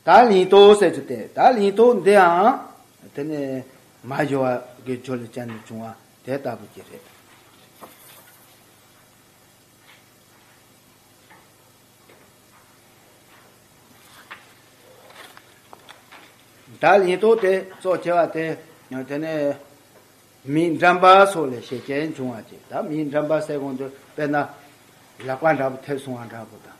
ད་ལིང་ཏོ་ཟེར་གྱི་དེ་ད་ལིང་ཏོ་འདིའང་དེ་ནས་མ་བཞི་བ་གི་སྦྱོར་ལས་སྤྱད་ནས་བྱུང་བ་དེ་ལྟ་བུ་གྱི་རེད། ད་ལིང་ཏོ་དེ་གཙོ་ཆེ་བ་དེ་དེ་ནས་མི་འགྲམ་པ་སོགས་ལས་ཤེས་ཅན་བྱུང་བ་གྱི་ད་མི་འགྲམ་པ་ཟེར་གོང་དུ་དཔེར་ན་ལག་པ་འདྲ་པོ་ཐེབས་སོང་བ་འདྲ་པོ་དང།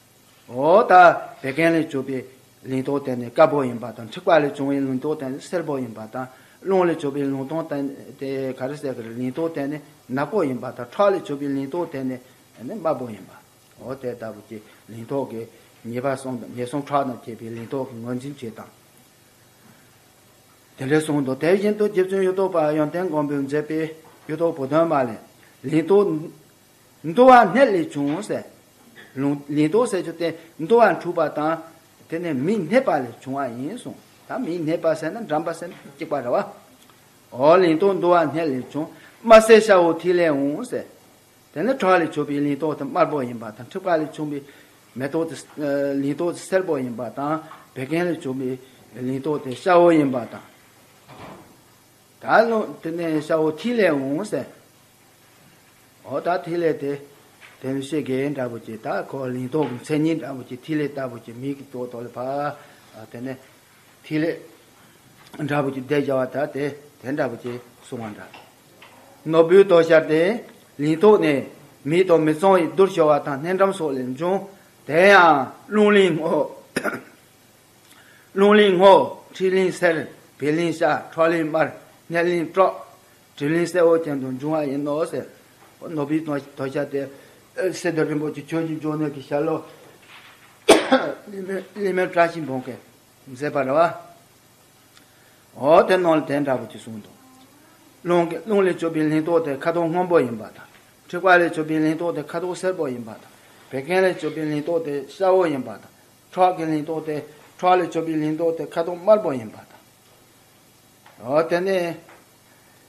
འོ་ད་བད་ཀན་ལས་གྱུར་པའི་ལིང་ཏོག་དེ་ནི་དཀར་པོ་ཡིན་པ་དང་འཁྲིག་པ་ལས་བྱུང་བའི་ལིང་ཏོག་དེ་ནི་སེར་པོ་ཡིན་པ་དང་རླུང་ལས་གྱུར་པའི་ལིང་ཏོག་དེ་ནི་ག་རེ་ཟེར་གི་ལིང་ཏོག་དེ་ནི་ནག་པོ་ཡིན་པ་དང་ཁྲག་ལས་གྱུར་པའི་ལིང་ཏོག་དེ་ནི་དམར་པོ་ཡིན་པའོ། དེ་ལྟ་བུ་སྟེ་ལིང་ཏོག་གི་ཉེས་པ་གསུམ་དང་ཉེས་གསུམ་ཁྲག་དང་བཅས་པའི་ལིང་ཏོག་གི་ངོས་འཛིན་བྱེད་དང། དེ་འདྲའི་གསུང་དང་དེ་བཞིན་དུ་རྗེ་བཙུན་གཡུ་ཐོག་པ་ཡོན་ཏན་མགོན་པོས་མཛད་པའི་གཡུ་ཐོག་བུ་སྟོན་མ་ལས། ལིང་ཏོག། འདུ་བ་སྣད་ལས་བྱུང་ངོ། སྲེད་ལུང་ལས་དོགས་སེལ་ཆུ་སྟེ་འདུ་བ་འཁྲུགས་པ་དང། དེ་ནི་མི་སྣད་པ་ལས་བྱུང་བ་ཡིན་གསུངས། ད་མི་སྣད་པ་སེལ་ན་འགྲམ་པ་སེམས་ཅན་གཅིག་པ་རེ་བ། འོ་ལིང་ཏོག་འདུ་བ་སྣད་ལས་བྱུང། དམར་སེར་ཤ་བོ་ཐིག་ལེ་འོང་ཟེར། དེ་ནི་བྲག་ལས་བྱུགས་པའི་ལིང་ཏོག་དེ་དམར་པོ་ཡིན་པ་དང་འཁྲིག་པ་ལས་བྱུང་བའི་མེ་ཏོག་དེ་ལིང་ཏོག་དེ་སེར་པོ་ཡིན་པ་དང་བད་ཀན་ལས་བྱུང་བའི་ལིང་ཏོག་དེ་ཤ་བོ་ཡིན་པ་དང། ད་ལོ་དེ་ནས་ཤ་བོ་ཐིག་ལེ་འོང་གསལ། ཨོ་ད་ཐིག་ལེ་དེ་བེམ་གཤེ་རྒས་འདྲ་བོ་ཀྱི་ད་ཁོ་ལིང་ཏོག་གི་མཚན་ཉིད་འདྲ་བོ་ཀྱི་ཐིག་ལེ་ལྟ་བུ་ཀྱི་མིག་གི་ཏོག་ཏོག་ལ་བབ། དེ་ནས་ཐིག་ལེ་འདྲ་བོ་ཀྱི་བདེ་བྱ་བ་ད་དེ་དེ་འདྲ་བོ་ཀྱི་སོང་བ་འདྲ། ནོར་བུའི་ཏོག་ཤར་ཏེ་ལིང་ཏོག་ནས་མིའི་ཏོག་མི་ཙོང་ཡི་རྡུར་ཤོར་བ་དང་སྣེ་འགྲམ་སོགས་ལས་འབྱུང། དེ་ཡང་རླུང་ལིང་ངོ། རླུང་ལིང་སྔོ། འཁྲིག་ལིང་སེར། བད་ལིང་ཤ། ཁྲག་ལིང་དམར། ནད་ལིང་སྐྲག། དྲི་ལིང་སེར་བོ་ཅན་དུ་འབྱུང་བ་ཡིན་ནོ་ཟེར། ནོར་བུའི་དོ་ཤལ་སྟེ། སེ་སྡེ་རིན་པོ་ཆེ་ཁྱོད་ཀྱི་འབྱུང་གནས་ཀྱི་ཤལ་ལོ། གླིང་མེར་བཀྲ་ཤིས་འབུམ་གྱིས་མཛེས་པར་རོལ། འོ་དེ་ནོར་ལས་དེ་འདྲ་བོ་ཅིག་གསུངས་འདུག། རླུང་ལས་བྱུགས་པའི་ལིང་ཏོག་དེ་ཁ་དོག་སྔོན་པོ་ཡིན་པ་དང། འཁྲིག་པ་ལས་བྱུགས་པའི་ལིང་ཏོག་དེ་ཁ་དོག་སེར་པོ་ཡིན་པ་དང། བད་ཀན་ལས་བྱུགས་པའི་ལིང་ཏོག་དེ་ཤ་བོ་ཡིན་པ་དང། ཁྲག་གི་ལིང་ཏོག་སྟེ་ཁྲག་ལས་བྱུགས་པའི་ལིང་ཏོག་སྟེ་ཁ་དོག་དམར་པོ་ཡིན་པ་དང། དེ་ནས་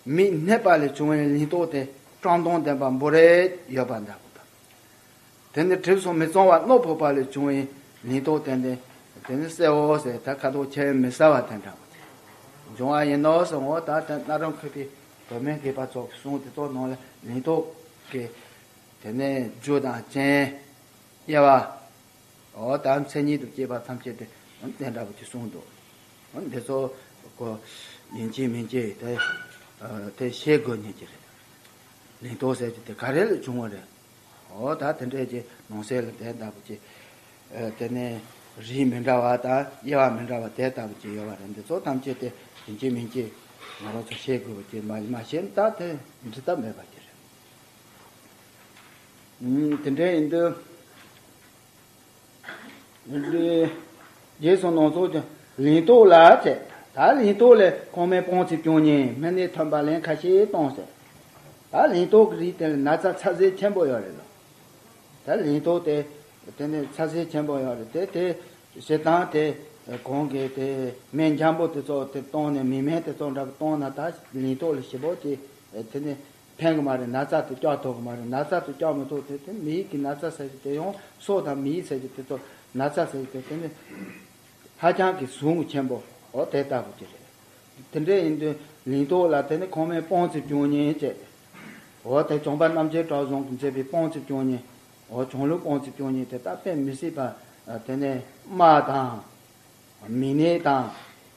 མི་སྣད་པ་ལས་བྱུང་བའི་ལིང་ཏོག་སྟེ་ཀྲང་དོང་ལྡན་པ་འབོ་རེད་ཡོད་པ་འདྲ་པོ་དང། དེ་ནས་གྲིབ་སོ་མི་གཙང་བ་རྣོ་ཕོག་པ་ལས་བྱུང་བའི་ལིང་ཏོག་སྟེ་དེ་ནི་གསེར་འོ་ཟེར་ད་ཁ་དོག་ཁྱེར་མི་ཟ་བ་དེ་འདྲ་པོ་དེ་འབྱུང་བ་ཡིན་ནོ་གསུང་ངོ་ད་དེ་སྣ་རུ་འཁོད་པའི་བུད་མེད་སྐྱེས་པ་ཚོགས་ཀྱི་གསུང་དེ་དག་ནང་ལ་ལིང་ཏོག་གི། དེ་ནས་རྒྱུ་དང་རྐྱེན་དབྱེ་བ། དག་མཚན་ཉིད་དུ་སྐྱེས་པ་ཐམས་ཅད་དེ་བདེན་འདྲ་བོ་དེ་གསུངས་འདུག་འདི་ཚོ་གོ། ཡིན་གཅིག་མིན་གཅིག་དེ་དེ་ཤེས་དགོས་ངེས་ཀྱི་རེད། ལིང་ཏོག་ཟེར་གྱི་དེ་ག་རེ་ལས་བྱུང་བ་རེད། འོ་ད་དེ་འདྲས་ཀྱི་ནང་གསེས་ལ་དེ་ལྟ་བུ་ཀྱི། དེ་ནས་རིས་མི་འདྲ་བ་དང་དབྱེ་བ་མི་འདྲ་བ་དེ་ལྟ་བུ་ཀྱི་ཡོད་པ་རེད་འདི་ཚོ་ཐམས་ཅད་དེ་ཡིན་གཅིག་མིན་གཅིག་ང་རང་ཚོ་ཤེས་དགོས་པ་ཀྱི་མ་ཤེས་ན་ད་དེ་འབྲི་ཐབས་མེད་པ་ཀྱི་རེད། དེ་འདྲའི་ཡིན་དུས། རྗེས་སུ་ནོར་ཚོགས་ཀྱི་ལིང་ཏོག་ལ་བཙས། ད་ལིང་ཏོག་ལས་ཁོང་མོའི་སྤོང་ཚེ་སྐྱོན་ཉེན་མི་ནས་ཐོན་པ་ལན་ཁ་ཤས་གཏོང་ཟེར། ད་ལིང་ཏོག་གི་རིགས་དེ་ལ་ན་ཚ་ཚ་ཟེར་ཆེན་པོ་ཡོད་རེད་ལ། ད་ལིང་ཏོག་དེ་དེ་ནས་ཚ་ཟེར་ཆེན་པོ་ཡོད་རེད་དེ་དེ་བྱེད་སྟངས་དེ་གོང་གི་དེ་སྨན་འཇམ་པོ་དེ་ཚོ་དེ་བཏང་ནས་མི་སྨན་དེ་ཚོ་འདྲ་བོ་བཏང་ན་ད་ལིང་ཏོག་ལ་ཞིབ་པོ་གྱིས་དེ་ནས། ཕན་གི་མ་རེད་ན་ཚ་དེ་སྐྱག་ཐོག་གི་མ་རེད་ན་ཚ་དེ་སྐྱག་མི་ཐོག་དེ་དེ་མི་ཡིག་གི་ན་ཚ་ཟེར་གྱི་དེ་ཡོང་སོག་དང་མི་ཡིག་ཟེར་གྱི་དེ་ཚོ་ན་ཚ་ཟེར་གྱི་དེ་དེ་ནི་ཧ་ཅང་གི་ཟུག་རྔུ་ཆེན་པོ་འོ་དེ་ལྟ་བུ་ཅིག་རེད། དེ་འདྲས་ཡིན་དུས་ལིང་ཏོག་ལ་དེ་ནི་ཁོང་མའི་སྤོང་ཚེ་སྐྱོན་ཉེན་བཅས་རེད། འོ་དེ་ལྗོངས་པ་རྣམ་རྒྱལ་བྲག་རྫོང་གི་མཛེས་པའི་སྤོང་ཚེ་སྐྱོན་ཉེན་འོ་ཆུང་ལུགས་སྤོང་ཚེ་སྐྱོན་ཉེན་དེ་ད་དཔེ་མི་སྲིད་པ་དེ་ནི་དམག་དང། མི་སྣེ་དང།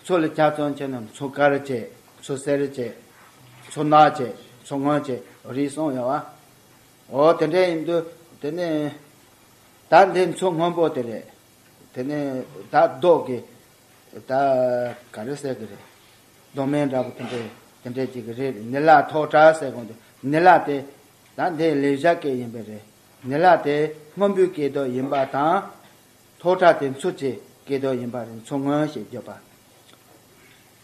མཚོ་ལ་ཆ་ཚང་ཆེ་ན་མཚོ་དཀར་ཆེ། མཚོ་གསེར་ཆེ། མཚོ་ནག་ཆེ། མཚོ་སྔོན་ཆེ། རིགས་གསུམ་ཡོད། འོ་དེ་འདྲ་ཡིན་དུས་དེ་ནས། ད་འདི་མཚོ་སྔོན་པོ་དེ་རེད། དེ་ནས་ད་རྡོག་གི། ད་ག་རེ་ཟེར་གི་རེད། རྡོ་སྨན་འདྲ་པོ་དེ་འདྲ་དེ་འདྲ་ཅིག་གི་རེད་དེ་ནི་ལ་ཐོག་བྲག་ཟེར་གོང་དུ་ནི་ལ་དེ། ད་འདི་ལེ་བཞག་སྐད་ཡིན་པས་རེད། ནི་ལ་དེ་སྔོན་པོའི་སྐད་དོད་ཡིན་པ་དང། ཐོག་ཁྲག་དེ་མཚོ་ཆེ་ཀེ་ཏོ་ཡིན་པ་རེད་མཚོ་སྔོན་ཞེས་བརྗོད་པ།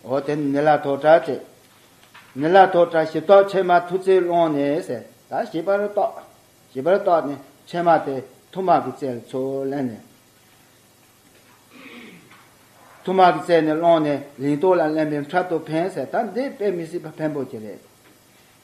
འོ་དེ་ནི་ནི་ལ་ཐོག་ཁྲག་ཅེས། ནི་ལ་ཐོག་ཁྲག་ཞིབ་ཏོག་ཕྱེ་མ་ཐུ་རྩེའི་ཀློང་ནས་ཟེར་ད་ཞིབ་པར་ཏོག་ཞིབ་པར་ཏོག་ནི་ཕྱེ་མ་དེ་ཐུ་མག་གི་རྩེར་མཚོ་གླན་ནས། ཐུ་མག་གི་རྩེ་ནས་སློང་ནས་ལིང་ཏོག་ལ་གླན་པའི་འཁྲབ་ཏུ་འཕེན་ཟེར་ད་འདི་དཔེ་མི་སྲིད་པ་ཕན་པོ་ཅི་རེད།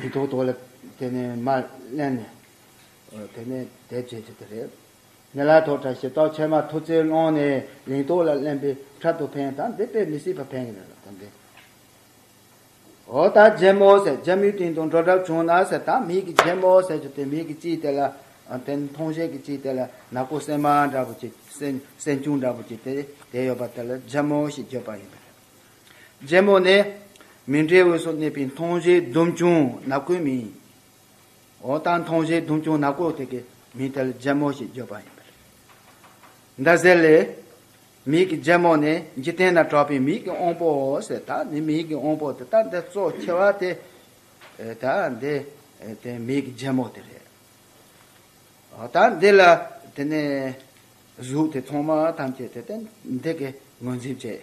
མི་ཐོག་ཐོག་ལ་དེ་ནས་མ་གླན་ནས། དེ་ནས་དད་བྱེད་ཅིག་དེ་རེད། མེ་ལ་ཐོག་བཀྲ་ཤིས་རྟོགས་ཆེན་མ་ཐུགས་རྩེ་ཀློང་ནས་ལིང་ཐོག་ལ་གླན་པའི་འཕྲལ་དུ་ཕན་དང་འདི་དཔེ་མི་སྲིད་པ་ཕན་གྱི་མེད་ལ་དམ་པའི། ཨོ་ད་རྒྱལ་མོ་ཟེར་རྒྱལ་མོའི་སྟེང་དུ་འགྲོ་གྲབས་བྱུང་ན་ཟེར་ད་མིག་གི་རྒྱལ་མོ་ཟེར་གྱི་དེ་མིག་གི་ལྕིའི་དེ་ལ་དེ་མཐོང་ཤེས་ཀྱི་ལྕིའི་དེ་ལ་ནག་པོ་སྲན་མ་འདྲ་བོ་ཅིག་སྲན་ཆུང་འདྲ་བོ་ཅིག་དེ་དེ་ཡོད་པ་དེ་ལ་རྒྱལ་མོ་ཞེས་བརྗོད་པ་ཡིན་པ་རེད། རྒྱལ་མོ་ནི། མི་འབྲལ་དབུས་སུ་གནས་པའི་མཐོང་བྱེད་སྡོམ་ཆུང་ནག་པོའི་མིང། འོ་ད་མཐོང་བྱེད་སྡོམ་ཆུང་ནག་པོ་དེ་གའི་མིང་དལ་རྒྱལ་མོ་ཞེས་བརྗོད་པ་ཡིན་པས། འདི་གསལ་ལས། མིག་གི་རྒྱལ་མོ་ནི་འཇིག་རྟེན་ན་གྲགས་པའི་མིག་གི་དབང་པོའོ་ཟེར་ད་ནི་མིག་གི་དབང་པོ་དེ་དག་འདི་གཙོ་ཆེ་བ་དེ། ད་འདི་དེ་མིག་གི་རྒྱལ་མོ་དེ་རེད། འོ་ད་འདི་ལ་དེ་ནས་གཟུགས་དེ་ཚང་མ་ཐམས་ཅད་དེ་དེ་འདི་གའི་ངོས་འཛིན་བྱེད།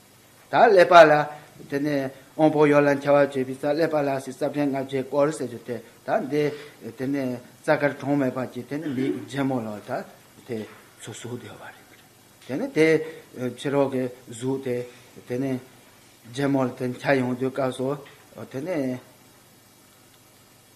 ད་ཀླད་པ་ལ་དེ་ནས་ཨོང་པོ་ཡོ་ལ་འཁྱལ་བར་བྱེད་པའི་རྩ་ཀླད་པ་ལ་སྲིད་རྩ་བྲན་ལྔ་བརྒྱའི་སྐོར་ཟེར་རྒྱུ་དེ་ད་འདི་དེ་ནས་རྩ་དཀར་གྲོང་མེད་པར་གྱི་དེ་ནས་མི་རྗེ་མོ་ལ་ད་དེ་ཚོ་གཟུགས་བདེ་བ་རེད་གི་དེ་ནས་དེ་ཕྱི་རོལ་གྱི་གཟུགས་དེ་དེ་ནས་རྗེ་མོ་ལ་དེ་འཁྱལ་ཡོང་དུས་སྐབས་སུ་དེ་ནས།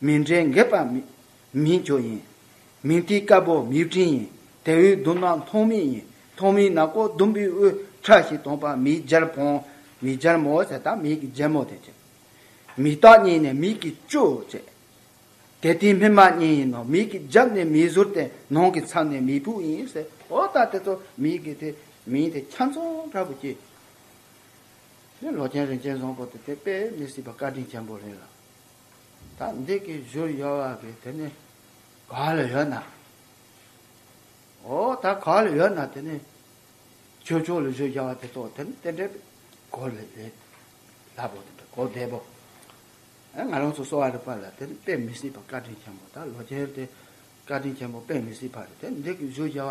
མི་འབྲལ་འགལ་པ་མིན་ཁྱོ་ཡིན། མིང་ཏི་དཀར་པོ་མིའུ་སྤྲིན་ཡིན། དེ་འི་སྡུག་ནག་མཐོང་མི་ཡིན། མཐོང་མི་ནག་པོ་ཟླུམ་པོའི་དབུས་ཁྲག་ཤིག་དོང་པ་མིའི་སྦྱར་བོང། མིའི་སྦྱར་མོ་ཟེར་ད་མིའི་གི་སྦྱར་མོ་དེ་བྱེད། མིའི་སྟག་རྙིང་ནས་མིའི་གི་ཅོ་བྱེད། དེ་ཏིའི་སྨིན་མ་རྙིང་ཡིན་ནོ་མིའི་གི་རྒྱབ་ནས་མིའི་ཟུར་དེ་ནང་གི་མཚམས་ནས་མིའི་བུ་ཡིན་ཟེར་ཨོ་ད་དེ་ཚོ་མིའི་གི་དེ་མིང་དེ་ཁྱམས་ཚོང་འདྲ་པོ་སྐྱེས། ལོ་ཆེན་རིན་ཆེན་བཟང་པོ་དེ་དེ་དཔེ་མི་སྲིད་པ་བཀའ་དྲིན་ཆེན་པོ་རེད་ལ། ད་འདི་གི་བཞུར་ཡོད་བ་གི་དེ་ནི་ག་ལ་ཡོད་ན། ཨོ་ད་ག་ལ་ཡོད་ན་དེ་ནི་ཁྱོད་ཆོག་ལ་བཞུར་རྒྱག་བ་དེ་ཐོག་དེ་ནི་དེ་འདྲའི་གོ་ལ་ལས་སླ་པོ་དེ་འདྲ་གོ་བདེ་པོ། ཨེ་ང་རང་ཚོ་གསོ་བ་རིག་པ་ལ་དེ་ནི་དཔེ་མི་སྲིད་པ་བཀའ་དྲིན་ཆེན་པོ་ད་ལོ་རྒྱལ་དེ་བཀའ་དྲིན་ཆེན་པོ་དཔེ་མི་སྲིད་པ་རེད་དེ་འདི་གི་བཞུར་རྒྱག་བ་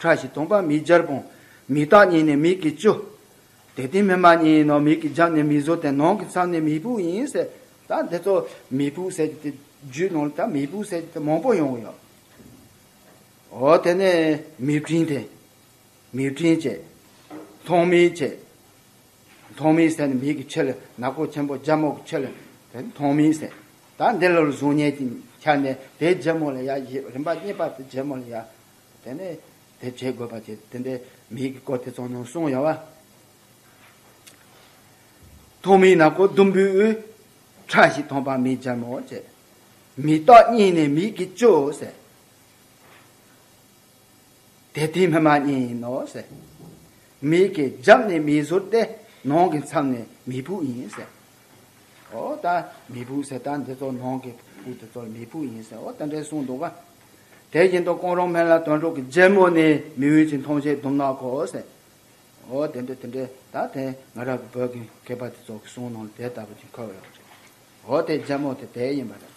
ཁྲག་བཞིན་སྟོང་པ་མིག་སྦྱར་སྤོང། མིག་བཏགས་གཉིས་ནི་མིག་གི་བཅུ། དེ་སྟེང་སྨིན་མ་གཉིས་ཡིན་ནོ་མིག་གི་རྒྱབ་ནི་མིག་བཟོ་སྟེ་ནང་གི་མཚམས་ནི་མིག་བུ་ཡིན། ཟེར། ད་འདི་ཚོ་མིག་བུ་ཟེར་གྱི་དེ་རྒྱུད་ནང་ལ་ད་མིག་བུ་ཟེར་གྱི་དེ་མང་པོ་ཡོང་གི་ཡོད། འོ་དེ་ནས་མིག་སྤྲིན་དེ། མིག་སྤྲིན་བཅས། མཐོང་མིག་བཅས། མཐོང་མིག་ཟེར་ནི་མིག་གི་ཕྱི་ལ་ནག་པོ་ཆེན་པོ་རྒྱ་མོག་གི་ཕྱི་ལ་དེ་མཐོང་མིག་ཟེར། ད་འདི་ལོར་གཟུགས་བརྙན་གྱིས་ཁྱབ་ནས་དེའི་རྒྱལ་མོ་ལ་ཡ་བཞི་རིམ་པ་གཉིས་པ་དེ་རྒྱལ་མོ་ལ་ཡ། དེ་ནས་དེ་བྱེད་དགོས་པ་བྱེད་དེ་འདྲའི་མི་ཡི་གི་སྐོར་དེ་ཚོ་ནང་གསུང་ཡ་བ། ཐོག་མི་ནག་པོ་ཟླུམ་པོའི་ཁྲ་ཞིག་ཐོང་པ་མི་འཇར་མོ་བྱེད། མི་རྟག་གཉིས་ནས་མི་ཡི་གི་ཅོ་ཟེར། དེ་དེའི་སྨན་མ་གཉིས་ཡིན་ནོ་ཟེར། མི་ཡི་གི་རྒྱབ་ནས་མི་ཟུར་ཏེ་ནང་གི་མཚམས་ནས་མི་བུ་ཡིན་ཟེར། ཨོ་ད་མི་བུ་ཟེར་ད་འདི་ཚོ་ནང་གི་བུ་དེ་ཚོ་མི་བུ་ཡིན་ཟེར་ཨོ་ད་འདྲའི་གསུང་འདུག་བ། དེ་བཞིན་དུ་ཀོང་རོང་སྨན་བླ་དོན་གྲུབ་ཀྱི་རྒྱལ་མོ་ནི་མི་འོས་ཀྱི་མཐོང་བྱེད་དུམ་ནག་གོ། འོ་དེ་འདྲ་དེ་འདྲ་ད་དེ་ང་རང་གི་བོད་ཀྱི་མཁས་པ་དེ་ཚོ་གི་གསུང་ནང་ལ་དེ་ལྟ་བུ་ཅིག་འཁོད་ཡོད་རེད། འོ་དེ་རྒྱལ་མོ་དེ་དེ་ཡིན་པ་རེད།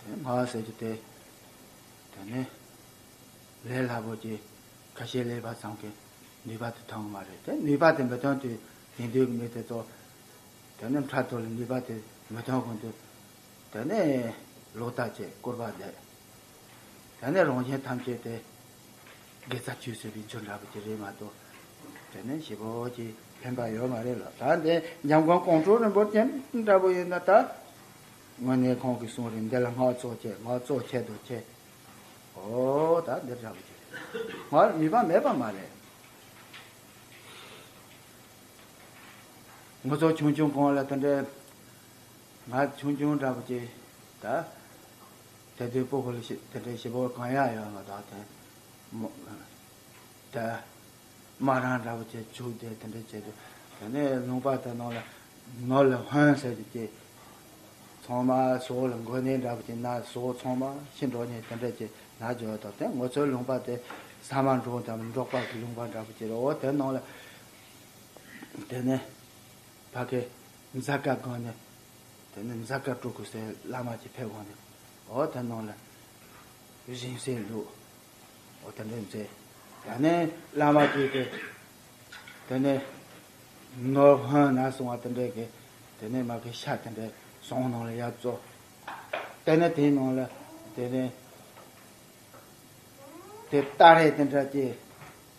དེ་སྨྲ་བ་ཟེར་གྱི་དེ་དེ་ནི་ལས་སླ་པོ་གྱི་ཁ་ཤས་ལས་པ་ཙམ་གྱི་ནུས་པ་དེ་ཐོན་གི་མ་རེད་དེ་ནུས་པ་དེ་མི་ཐོན་དུས་དེང་དུས་ཀྱི་མི་དེ་ཚོ་དེ་ནི་འཕྲལ་དུ་ལ་ནུས་པ་དེ་མི་ཐོན་གོང་དུ་དེ་ནི་ལོག་ལྟ་བྱེད་སྐུར་པ་འདེབས་དེ་ནི་རང་བཞིན་ཐམས་ཅད་དེ། དགེ་རྩ་བཅུ་ཟེར་བའི་ཆོས་འདྲ་པོ་དེ་རེད་མ་གཏོགས། དེ་ནས་ཞེ་པོ་ཀྱི་ཕན་པ་ཡོད་མ་རེད་ལ་ད་ནི་འཇམ་མགོན་ཀོང་སྤྲུལ་རིན་པོ་ཆེ་འདྲ་པོ་ཡིན་ན་ད། དངོས་གནས་ཁོང་གི་གསུང་རིགས་འདི་ལ་སྔགས་གཙོ་ཁྱད་སྔགས་གཙོ་ཁྱད་དུ་ཆེ། ཨོ་ད་འདི་འདྲ་པོ་དེ་རེད་ང་ལ་ནུས་པ་མེད་པ་མ་རེད། ངོ་ཚོགས་ཆུང་ཆུང་གང་ལ་དེ་འདྲའི་ང་ཆུང་ཆུང་འདྲ་པོ་ཅིག་ད། དེ་ལྟའི་སྤོ་ཕོ་ལ་ཞེས་དེ་འདྲའི་ཞེ་པོ་གང་ཡང་ཡོད་མ་གདའ་དེ། དེ། སྨ་རང་འདྲ་བོ་དེ་བྱུགས་ཏེ་དེ་འདྲ་བྱས་ཏེ། དེ་ནས་ལུང་པ་དེ་ནང་ལ་ནོར་ལ་ཧོན་ཟེར་ཏེ་དེ། ཚོང་མ་ཟོ་ལ་མགོ་ནད་འདྲ་བོ་དེ་ན་ཟོ་ཚོང་མ་ཤི་འགྲོ་ནས་དེ་འདྲ་བྱས་ན་འཇོག་དང་དེ་ངོ་ཚོའི་ལུང་པ་དེ། ས་མ་འབྲོག་དང་འབྲོག་པ་གི་ལུང་པ་འདྲ་བོ་དེ་རོ་དེ་ནང་ལ། དེ་ནས། བ་ཁའི། མཛའ་བཀའ་དགོན་ནས་དེ་ནས་འཛག་དཀར་སྤྲུལ་སྐུ་སའི་བླ་མ་ཀྱི་ཕེབས་དབང་ནས་འོ་དེ་ནང་ལ་བཞེངས་སའི་ལུགས་འོ་དེ་འདྲས་མཛད། ད་ནས་བླ་མ་ཀྱི་དེ་དེ་ནས་ནོར་བྷན་ན་སོང་བ་དེ་འདྲས་ཀྱི་དེ་ནས་མ་ཀི་ཤ་དེ་འདྲས་སོང་ནང་ལ་ཡབ་གཙོ། དེ་ནས་དེའི་ནང་ལ་དེ་ནས་དེ་ཏཱ་རེ་དེ་འདྲ་ཀྱི།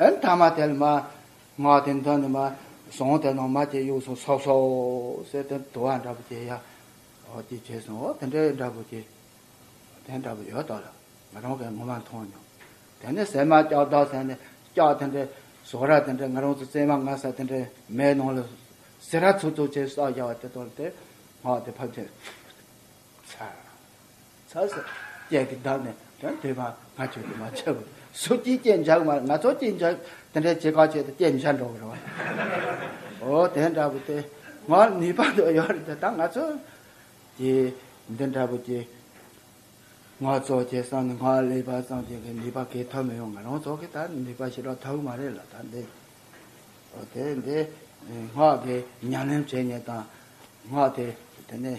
ཨན་ཐ་མ་དལ་མ། ང་དེ་མདོ་ནས་མ། སོང་དེ་ནང་མ་དེ་ཡུགས་སོང་སོགས་སོ། སེ་དེ་དུ་བ་འདྲ་པོ་དེ་ཡ། ཨོ་དེ་བྱས་སོང་ཨོ་དེ་འདྲའི་འདྲ་པོ་དེ། དེ་འདྲ་པོ་ཡོད་དོ་ལ། ང་རང་གིས་ངོ་མ་མཐོང་མྱོང། དེ་ནས་ཟས་མ་སྐྱག་བདག་ཟས་ནས་སྐྱག་དེ་འདྲའི། ཟོག་ར་དེ་འདྲའི་ང་རང་ཚོ་བཙས་མ་ང་ས་དེ་འདྲའི་མའི་ནང་ལ། སེ་ར་ཚུགས་ཚུགས་བྱས་སོགས་བྱ་བ་དེ་དོར་ཏེ། ང་དེ་ཕབ་ཅིང། ཚར། ཚར་ཟེར། ཅད་ཀྱི་བདག་ནི་དོན་དེ་མ་ང་ཁྱོད་ཀྱིས་མ་བྱས་པར་སུ་ཅིའི་སྐྱེས་འཇག་མ་ང་ཚོ་སྐྱེས་འཇག་དེ་འདྲའི་བྱེད་གང་བྱས་ཏེ་སྐྱེས་འཇག་འགྲོ་བར་བ། འོ་དེ་འདྲ་བུ་དེ་ང་ནུས་པ་དོ་ཡོད་རེད་དེ་ད་ང་ཚོ་ཀྱི་འདི་འདྲ་བུ་ཀྱི་ང་ཚོ་ཀྱི་སང་ནི་ང་ལས་པ་སང་ཅིག་གི་ནུས་པ་གས་ཐོབ་མི་ཡོང་ང་རང་ཚོ་གི་ད་ནུས་པ་ཞིག་རག་ཐབས་མ་རེད་ལ་ད་འདི་འོ་དེ་འདི་ངག་གི་ཉམས་ལེན་བྱེད་ཉེན་དང་ངག་དེ་དེ་ནས།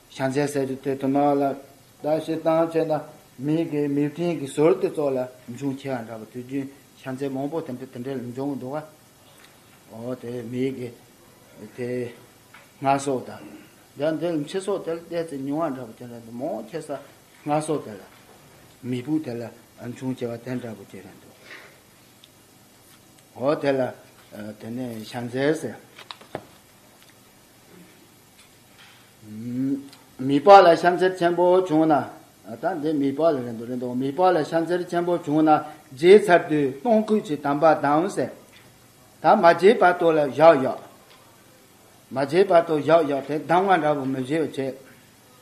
བྱང་ཚད་གསལ་གྱི་དོད་དུ་མ་ལ་བཟླ་ཞེས་བཏང་བྱས་ན་མིག་གིས་མིག་སྤྲིན་གྱི་ཟོར་དེ་སྩོགས་ལ་འབྱུང་ཁྱེ་བ་འདྲ་བ་དུས་རྒྱུན་བྱང་ཚད་མང་པོ་དེ་འདྲ་དེ་འདྲའི་འབྱུང་འདུག་བ། འོ་དེ་མིག་གི་དེ་སྔ་སོགས་དང། ཡང་དེ་ཕྱི་སོགས་དེ་ལ་བལྟས་ཚེ་ཉུང་བ་འདྲ་བ་དེ་འདྲ་འདུག་མང་ཁྱེ་ས་སྔ་སོགས་དེ་ལ་མིག་བུ་དེ་ལ་འབྱུང་ཁྱེ་བ་དེ་འདྲ་བུ་དེ་རེད་འདུག། འོ་དེ་ལ་དེ་ནས་བྱང་ཚད་གསལ། མི་ལྤགས་ལ་ཤམ་ཚེར་ཆེན་པོ་བྱུང་ན། ད་འདི་མི་ལྤགས་ལ་རེ་འདུག་རེ་འདུག་མི་ལྤགས་ལ་ཤམ་ཚེར་ཆེན་པོ་བྱུང་ན་བརྗེས་ཚར་དུས་སྟོང་སྐུད་ཀྱི་དམ་པ་དང་ཟེར། ད་མ་བརྗེས་བར་དོ་ལ་བཞག་བཞག། མ་བརྗེས་བར་དོ་བཞག་བཞག་དེ་གདམ་ང་འདྲ་བོ་མི་བཞེས་བ་བྱས།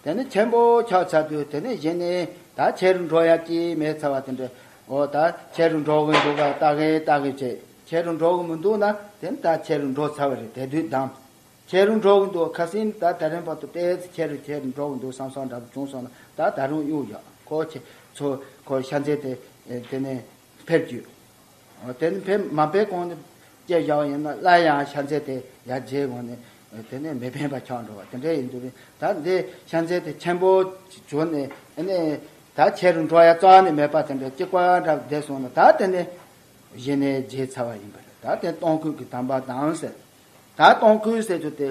དེ་ནས་ཆེན་པོ་འཁྱག་ཚར་དུས་དེ་ནས་གཞན་ནས་ད་ཆེ་རུ་འགྲོ་ཡ་ཀྱི་མེད་ཚར་བ་དེ་འདྲ། འོ་ད་ཆེ་རུ་འགྲོ་གི་འདུག་ག་ལྟ་གི་ལྟ་གི་བྱས། ཆེ་རུ་འགྲོ་གི་མི་འདུག་ན་དེ་ནི་ད་ཆེ་རུ་འགྲོ་ཚར་བ་རེད་དེ་དུས་གདམ། ཁྱེད་རང་འགྲོ་གི་འདུག་ཁ་སིམ་ད་ད་རིང་བར་དུ་པས་ཚེ་ཁྱེད་རང་ཁྱེད་རང་འགྲོ་གི་འདུག་བསམ་བསམ་འདྲ་པོ་བྱུང་སོང་ན་ད་ད་རུང་གཡུག་ཡོད་ཁོ་ཁྱེད་ཚོ་ཁོ་ཤ་འཛེར་ཏེ་དེ་ནས་ཕེབས་རྒྱུ། དེ་ནས་ཕེབས་མ་ཕེབས་གོང་ནས་སྐད་བཞག་པ་ཡིན་ན་སླར་ཡང་ཤ་འཛེར་ཏེ་ཡར་རྗེས་གོང་ནས་དེ་ནས་མི་ཕན་པ་འཁྱག་འགྲོ་བ་དེ་འདྲ་ཡིན་འདུག་པས་ད་འདི་ཤ་འཛེར་ཏེ་ཆེན་པོ་བྱུང་ནས་ནས་ད་ཁྱེད་རང་འགྲོ་ཡ་རྩ་བ་ནས་མེད་པ་དེ་འདྲ་ཅིག་པ་འདྲ་པོ་བསྡད་སོང་ན་ད་དེ་ནས་གཞི་ནས་བརྗེད་ཚར་བ་ཡིན་པ་རེད་ད་དེ་སྟོང་སྐུད་ཀྱི་དམ་པ་དང་ཟེར། ད་གཏོང་ཁུལ་ཟེར་རྒྱུ་དེ་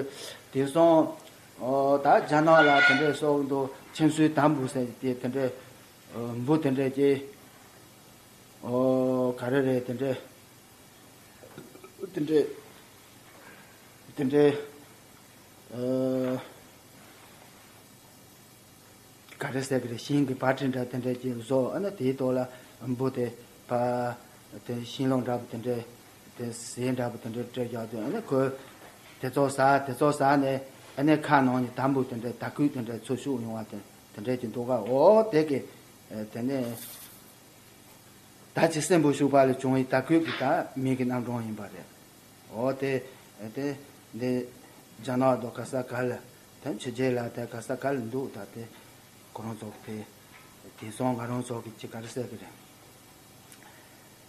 དེང་སང་ད་རྒྱ་ནག་ལ་དེ་འདྲའི་སོགས་འདུག་ཁྱིམ་སུའི་ད་འབུ་ཟེར་རྒྱུ་དེ་དེ་འདྲའི་འབུ་དེ་འདྲའི་ཀྱི་ག་རེ་རེད་དེ་འདྲའི་དེ་འདྲའི་དེ་འདྲའི་ག་རེ་ཟེར་གི་རེད་ཤིང་གི་བར་ཁྲི་འདྲ་དེ་འདྲའི་ཀྱི་བཟོ་ཨ་ན་དེའི་ཐོག་ལ་འབུ་དེ་བ་དེ་ཤིང་ལོ་འདྲ་པོ་དེ་འདྲའི། དེ་ཟས་འདྲ་བུ་དེ་འདྲས་སྤྲད་རྒྱག་དུས་ཨ་ཁོས་དེ་ཚོ་ཟ་དེ་ཚོ་ཟ་ནས་ཨ་ནེ་ཁ་ནང་ནས་དམ་བུ་དེ་འདྲས་དར་སྐུད་དེ་འདྲས་ཚུར་ཤུགས་ཡོང་བ་དེ་འདྲས་ཀྱི་འདུག་ག་འོ་དེ་གི་དེ་ནས་ད་ཅི་སྲིན་འབུ་ཞུགས་པ་ལས་བྱུང་བའི་དར་སྐུད་ཀྱི་དར་མིག་གི་རྣམ་གྲངས་ཡིན་པ་རེད་འོ་དེ་དེ་འདི་རྒྱ་ནག་དང་ག་ས་ག་ལ་དེ་ཕྱི་རྒྱལ་ལ་དེ་ག་ས་ག་ལ་འདུག་ད་དེ་ཁོ་རང་ཚོ་དེ་དེང་སང་ང་རང་ཚོ་གི་ཅི་ག་རེ་བསད་གི་རེད།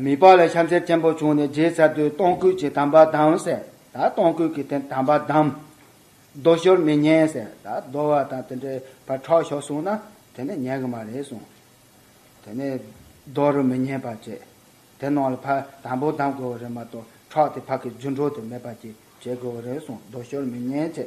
མི་ལྤགས་ལས་ཤམ་ཟས་ཆེན་པོ་བྱུང་ནས་རྗེའི་ཚལ་དུ་སྟོང་སྐུད་ཀྱི་དམ་པ་བདམས། ཟས་དང་སྟོང་སྐུད་ཀྱི་དེ་དམ་པ་བདམས། རྡོ་ཞོར་མི་ཉན། ཟས་དང་རྡོ་བ་དང་དེ་འདྲའི་བར་ཁྲག་ཞོག་གསུངས་ན་དེ་ནི་ཉན་གི་མ་རེད་གསུངས། དེ་ནས་རྡོ་རུ་མི་ཉན་པར་བྱས། དེ་ནང་ལ་ཕག་དམ་པོ་བདམས་དགོས་བ་རེད་མ་གཏོགས་ཁྲག་དེ་ཕག་གི་རྒྱུ་འགྲོ་དེ་མེད་པར་གྱིས་བྱེད་དགོས་བ་རེད་གསུངས་རྡོ་ཞོར་མི་ཉན་བྱས།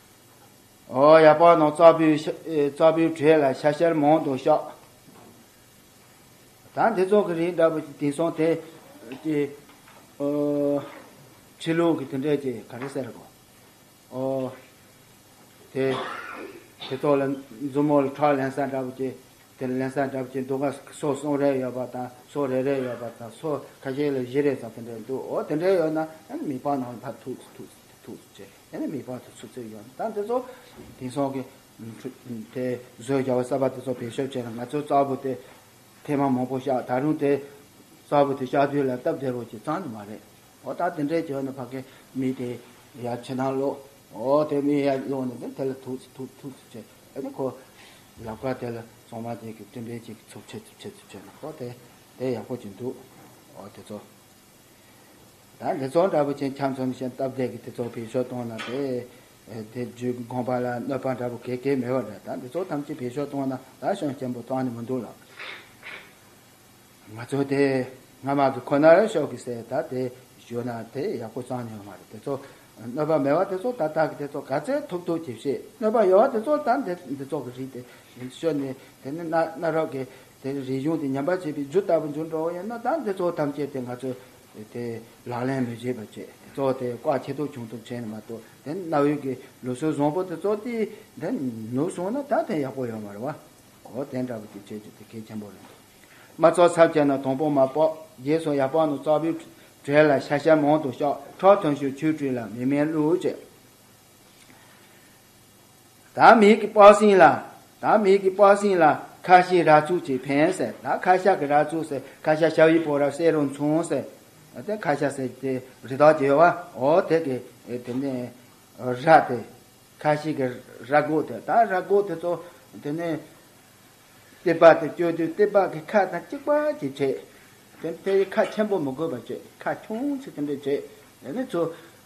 ཡ་དཔའ་ནང་རྩ་བུའི་གྲས་ལ་ཤ་ཤར་མང་དུ་བཞག། ད་འདི་ཚོགས་ཀྱི་རིགས་འདྲ་བོ་ཞིག་དེང་སང་དེ། ཁྲིད་ལུང་གི་དེ་འདྲས་ཀྱི་ག་རེ་ཟེར་རོ། དེ་ཚོ་ལ་མཛུབ་མོ་ལ་ཁྲག་ལེན་ས་འདྲ་བོ་ཅིག་དེ་ལེན་ས་འདྲ་བོ་ཅིག་འདུག་ག་སོ་གསུམ་རེ་ཡོད་པ་དང་སོ་རེ་རེ་ཡོད་པ་དང་སོ་ཁ་ཤས་ལ་བཞི་རེ་ཙམ་དེ་འདྲས་འདུག་འོ་དེ་འདྲས་ཡོད་ན་མི་དཔའ་ནང་ལ་ཕབ་ཐུག་ཐུག་ཐུག་ཐུག་བྱེད། དེ་ནས་མི་ཕོ་དེ་ཚོ་ཚོས་ཡོང་ཟླ་འདི་ཚོ། དེང་སང་གི། དེ། བཟོས་རྒྱ་བ་གསར་པ་དེ་ཚོ་བེད་སྤྱོད་བྱས་ན་ང་ཚོའི་གཙགས་བུ་དེ། ཐེ་མ་མང་པོ་བཤགས་ད་རུང་དེ། གཙགས་བུ་དེ་བཤགས་དུས་ལ་སྟབས་བདེ་བོ་ཞིག་ཙང་ནི་མ་རེད། འོ་ད་དེ་འདྲའི་བྱོས་ནས་ཕ་གི་མི་དེ། ཡར་ཕྱི་ནང་ལོག། འོ་དེ་མི་ཡར་ལོག་ནས་དེ་དེ་ལ་ཐུག་སི་ཐུག་ཐུག་སི་བྱས་ཨེ་ནི་ཁོ། ཡབ་ཁ་དེ་ལ་གཙང་མ་དེ་གི་སྤྲིན་པའི་ཅིག་ཚུབ་ཆེད་དུ་ཆེད་དུ་བྱོས་ན་ཁོ་དེ། དེ་ཡག་པོ་ཅིག་འདུག། འོ་དེ་ཚོ། ད་དེ་ཚོགས་འདྲ་པོ་ཆེ་འཁྱམས་ཚོམ་ཞིང་སྟབས་བདེ་གི་དེ་ཚོགས་བེད་ཤོག་གཏོང་ན་དེ་དེ་རྒྱུད་དགོངས་པ་ལ་གནོད་པ་འདྲ་པོ་གེ་གེ་མེད་པ་འདྲ་ད་འདི་ཚོགས་ཐམས་ཅད་བེད་ཤོག་གཏོང་ན་ད་ཤོང་སྐྱེན་པོ་ཐོག་ནས་མི་འདུག་ལགས། ང་ཚོ་དེ་སྔ་མ་གི་ཁོ་ནར་ཤོག་གི་སེ་ད་དེ་བཞུགས་ན་དེ་ཡག་པོ་ཙང་ཡོད་མ་རེད་དེ་ཚོགས་གནོད་པ་མེད་པ་དེ་ཚོགས་ད་ད་གི་དེ་ཚོགས་ག་ཚད་ཐུབ་ཐུབ་གྱིས་བཤད་གནོད་པ་ཡོད་པ་དེ་ཚོགས་ད་འདི་འདི་ཚོགས་གི་རིགས་དེ་ཤོད་ནས་དེ་ནི་གནའ་རབས་ཀྱི་དེར་རིག་གཞུང་དེ་ཉམས་པར་བྱེད་པའི་རྒྱུ་ལྟ་བུ་འགྱུར་འགྲོ་བ་ཡིན་ན་ད་འདི་གཙོ་བོ་ཐམས་ཅད་དེ་ང་ཚོས་དེ་ལག་ལེན་མི་བྱེད་པར་བྱས་ཏེ་གཙོ་བོ་དེ་བཀའ་ཁྱེད་ཐུགས་བྱུང་ཐུབ་བྱས་ནས་མ་གཏོགས་དེ་གནའ་བོའི་དགེ་ལུགས་སྲོལ་བཟང་པོ་དེ་གཙོ་དེ་དེ་ནུབ་སོང་ན་ད་དེ་ཡག་པོ་ཡོང་བར་བ་གོ་དེ་འདྲ་བོ་དེ་བྱེད་རྒྱུ་དེ་གལ་ཆེན་པོ་རེད་འདུག་མ་གཙོ་ཚབ་བྱས་ན་དང་པོ་མ་དཔོག་རྗེས་སུ་ཡར་དཔོག་ནས་གཙོ་བོའི་གྲས་ལ་ཤ་ཤ་མང་དུ་ཤོག་ཁྲག་ཐོན་ཤོག་ཆོས་ཁྲིད་ལ་མི་དམན་བསླུ་བྱེད། དག་མིག་གི་པགས་སྲིན་ལ། དག་མིག་གི་པགས་སྲིན་ལ་ཁ་བཤིག་ར་ཚུགས་ཀྱིས་ཕན་ཟེར་ད་ཁ་ཤ་གི་ར་ཚུགས་ཟེར་ཁ་ཤ་ཤ་བའི་བོ་ར་བསྲེས་རུང་མཚུངས་ཟེར་དེ་ཁ་ཤ་ཟེར་དེ་རི་དྭགས་ཀྱི་བ་འོ་དེ་གི་དེ་ནས་ར་དེ་ཁ་བཤིག་གི་ར་སྒོག་དེ་ད་ར་སྒོག་དེ་ཚོ་དེ་ནས་ཏི་པག་དེ་བསྐྱོད་དུས་ཏི་པག་གི་ཁ་དང་གཅིག་པ་གྱིས་བྱེད་དེ་དེ་ཁ་ཆེན་པོ་མི་དགོས་པར་བྱེད་ཁ་ཆུང་ཚིག་དེ་འདྲས་བྱེད་དེ་ནས་ཚུ།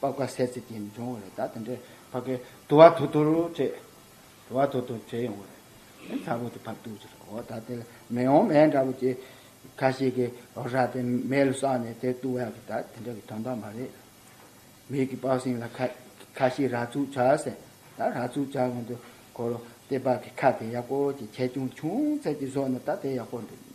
པ་བཀའ་གསལ་ཚིག་གིས་འབྱུང་བ་རེད་ད་དེ་འདྲའི་བར་གྱི་དུ་བ་དུ་དུར་བྲེད། དུ་བ་དུར་དུར་བྲེད་ཡོང་བ་རེད། དེ་ཚ་བོ་དེ་བབ་འདུག་ཅེས་ཨོ་ད་དེ་ལ་མེ་ཡོང་མེད་འདྲ་བོ་ཅེས། ཁ་ཞིག་གིས་ཨོ་ཧྲ་དེ་མེ་ལ་བསགས་ནས་དེ་བཏུ་བ་གི་ད་དེ་འདྲ་གི་དོན་དག་མ་རེད། མིག་གིས་དཔག་ཟིན་ལ་ཁ་ཞིག་ར་ཚུགས་བྱ་ཟེར། ད་ར་ཚུགས་བྱ་གོང་དུ་ཁོ་རོ་དེ་དཔག་གི་ཁ་དེ་ཡག་པོ་ཅིག་ཁྱེད་ཆུང་ཆུང་ཚད་ཀྱི་བཟོ་ན་ད་དེ་ཡག་པོ་འདུག།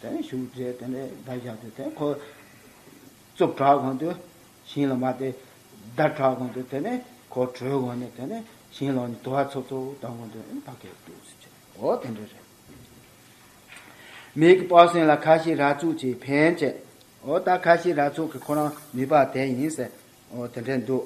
དེ་ནས་བཞུགས་མཛད་དེ་ནས་བརྡ་བཞག་སྟེ་དེ་འཁོར། གཙུག་དྲག་གོང་དུ་བྱིན་ལ་མ་སྟེ། བརྡ་དྲག་གོང་དུ་དེ་ནས་འཁོར་བྲོས་གོང་ནས་དེ་ནས་བྱིན་ལ་འོ་ནི་དུ་བ་ཚོགས་ཚོགས་བརྡ་གོང་དུ་ཨིན་བྷ་གའི་ཏུ་སུ་ཆེ། འོ་དེ་འདྲ་རེད། མིག་གི་པགས་སེང་ལ་ཁ་ཤི་ར་ཚུགས་ཀྱིས་ཕན་བཅས། འོ་ད་ཁ་ཤི་ར་ཚུགས་ཀྱི་ཁོ་རང་མི་པགས་དེ་ཡིན་ཟེར། འོ་དེ་འདྲས་འདུག།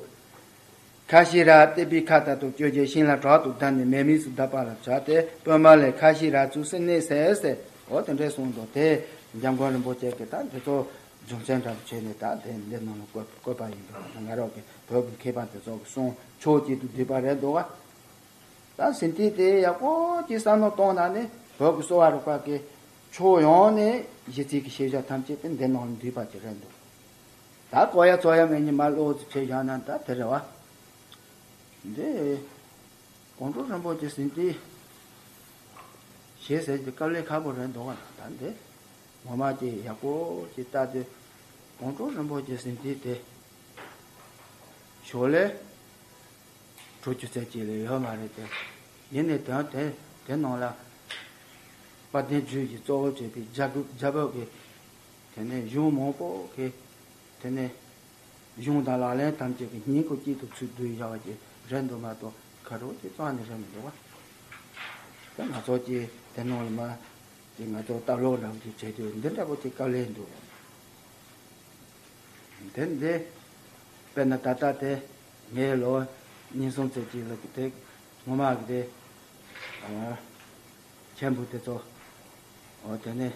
ཁ་ཤི་ར་སྟེ་པི་ཁ་ད་དུ་བསྐྱོད་རྗེས་ཤིང་ལ་དྲག་ཏུ་བརྡབས་ནས་མེ་དམིགས་སུ་བརྡབས་པ་ལ་བྱ་སྟེ་དཔོན་མ་ལས་ཁ་ཤི་ར་བཙུགས་སེ་གནས་སའི་སའི་འོག་ཏུ་འདྲེ་གསུངས་མདོ་དེས་འཇམ་མགོན་རིན་པོ་ཆེ་གིས་ད་འདི་ཚོ་རྒྱུ་མཚན་འདྲ་བོ་བྱས་ནས་ད་དེ་འདི་ནང་ལ་བཀོད་པ་ཡིན་འདུག་ང་རོག་གི་བོད་ཀྱི་མཁས་པ་འདི་ཚོ་གི་གསུང་ཆོས་གཅིག་ཏུ་བསྡུས་པ་རེད་འདུག་ག་ད་ཟིན་བྲིས་དེ་ཡག་པོ་གཅིག་བསམ་བློ་གཏོང་ན་ནི་བོད་ཀྱི་གསོ་བ་རིག་པ་གི་ཕྱོགས་ཡོངས་ནས་གཞི་རྩིས་ཀྱི་ཤེས་བྱ་ཐམས་ཅད་དེ་འདི་ནང་ལ་འདུས་པ་གཅིག་རེད་འདུག། ད་ཀོ་ཡ་ཙོ་ཡ་མེ་ཉི་མ་བློ་གཟི་ཁྱེད་བཞག་ན་ད་དེ་རེད་བ། འདི། ཀོང་སྤྲུལ་རིན་པོ་ཆེ་ཟིན་ཏེ། ཞེས་ཟེར་གྱི་དཀའ་ལས་ཁག་པོ་རེད་འདུག་ག་ད་འདི། ངོ་མ་ཀྱི་ཡག་པོ་ཅིག་བལྟ་དུས། ཀོང་སྤྲུལ་རིན་པོ་ཆེ་ཟིན་ཏེ་དེ། ཞོར་ལས། གྲོས་ཆོད་ཚད་ཅིག་ལས་ཡོད་མ་རེད་དེ། ཡིན་ནའི་དོན་དེ་དེ་ནང་ལ། དཔལ་ལྡན་ཇུས་ཀྱི་གཙོ་བོ་བྱས་པའི་རྒྱ་བོད་ཀྱི། དེ་ནས་གཞུང་མང་པོ་གི། དེ་ནས་གཞུང་དང་ལག་ལེན་ཐམས་ཅད་ཀྱི་སྙིང་པོ་གཅིག་ཏུ་ཚུལ་བསྡུ་བཞག་པ་ཀྱི་རེ་འདུན་མ་གཏོགས་ཁ་རོག་གཅིག་ཙམ་ནི་རེ་མི་འདུག་བ། དེ་ང་ཚོ་ཀྱི་དེ་ནང་ལ་མ་ཀྱི་ང་ཚོ་ལྟ་ལོག་རང་གིས་བྱས་དུས་འདི་འདྲ་པོ་ཅིག་བཀའ་ལས་འདུག་དེ་འདི། དཔེར་ན་ད་ལྟ་དེ་ངའི་ལོ་ཉིས་གསུམ་ཚོད་ཅིག་ལ་ཀྱི་དེ་ངོ་མ་ཀྱི་དེ། མཆན་བུ་དེ་ཚོ། དེ་ནི།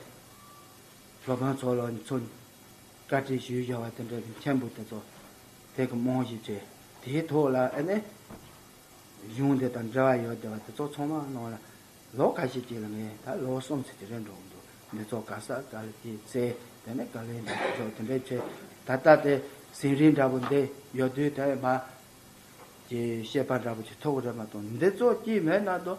ཞོ་ཕང་ཚོ་ལ་ཚོ་བཀའ་དྲིན་ཞུ་བཞིན་བ་དེ་འདྲ་ནི་མཁན་པོ་དེ་ཚོ་དེ་གི་རྨོངས་ཞིབ་བྱས་དེའི་ཐོག་ལ་ཨེ་ནས་གཞུང་དེ་དང་འབྲེལ་བ་ཡོད་དེ་བ་དེ་ཚོ་ཚང་མ་ནང་ལ་ལོ་ག་ཞིག་ཅིག་ལ་ངས་ད་ལོ་གསུམ་ཚིག་དེ་རེད་འགྲོ་གི་འདུག་མི་ཚོ་ག་ས་ག་ལ་གི་ཚེ་དེ་ནས་ག་ལེ་འདི་དེ་ཚོ་དེ་འདྲས་བྱས་ད་ལྟ་དེ་ཟིན་རིན་འདྲ་པོ་འདི་ཡོད་དུས་དེ་མ་ཀྱི་ཤེས་པ་འདྲ་པོ་ཅིག་ཐོབ་གི་རེད་མ་གཏོགས་འདི་ཚོ་སྐྱིད་མེད་ན་དོ་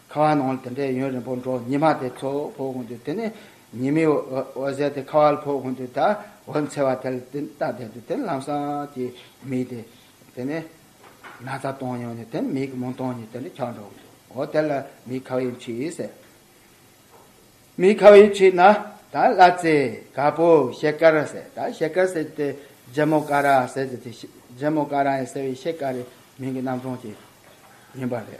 ཁ་བ་ནང་ལ་དེ་འདྲའི་ཡུན་རིང་པོ་འགྲོ་ཉི་མ་དེ་ཚོ་ཕོག་དགོས་འདུག་དེ་ནི་ཉི་མའི་འོད་ཟེར་དེ་ཁ་བ་ལ་ཕོག་དགོས་འདུག་ད་འོད་འཚེར་བ་དེ་ལ་དེ་ལྟ་བསྡད་འདུག་དེ་ནི་ལམ་སང་གི་མིག་དེ་དེ་ནི་ན་ཚ་བཏང་ཡོང་ནས་དེ་ནི་མིག་གི་མུན་སྟོང་ཉིད་དེ་འདྲ་འཁྱག་འགྲོ་གི་འདུག་འོ་དེ་ལ་མིག་ཁ་བའི་ཕྱིར་ཡིན་ཟེར། མིག་ཁ་བའི་ཕྱིར་ན་ད་གླ་རྩི་ག་པོ་ཤེལ་དཀར་ཟེར་ད་ཤེལ་དཀར་ཟེར་དེ་རྗེ་མོ་ཀ་ར་ཟེར་དེ་དེ་རྗེ་མོ་ཀ་ར་ཡིན་ཟེར་བའི་ཤེལ་དཀར་རེད་མིང་གི་རྣམ་གྲངས་ཀྱིས་ཡིན་པ་རེད།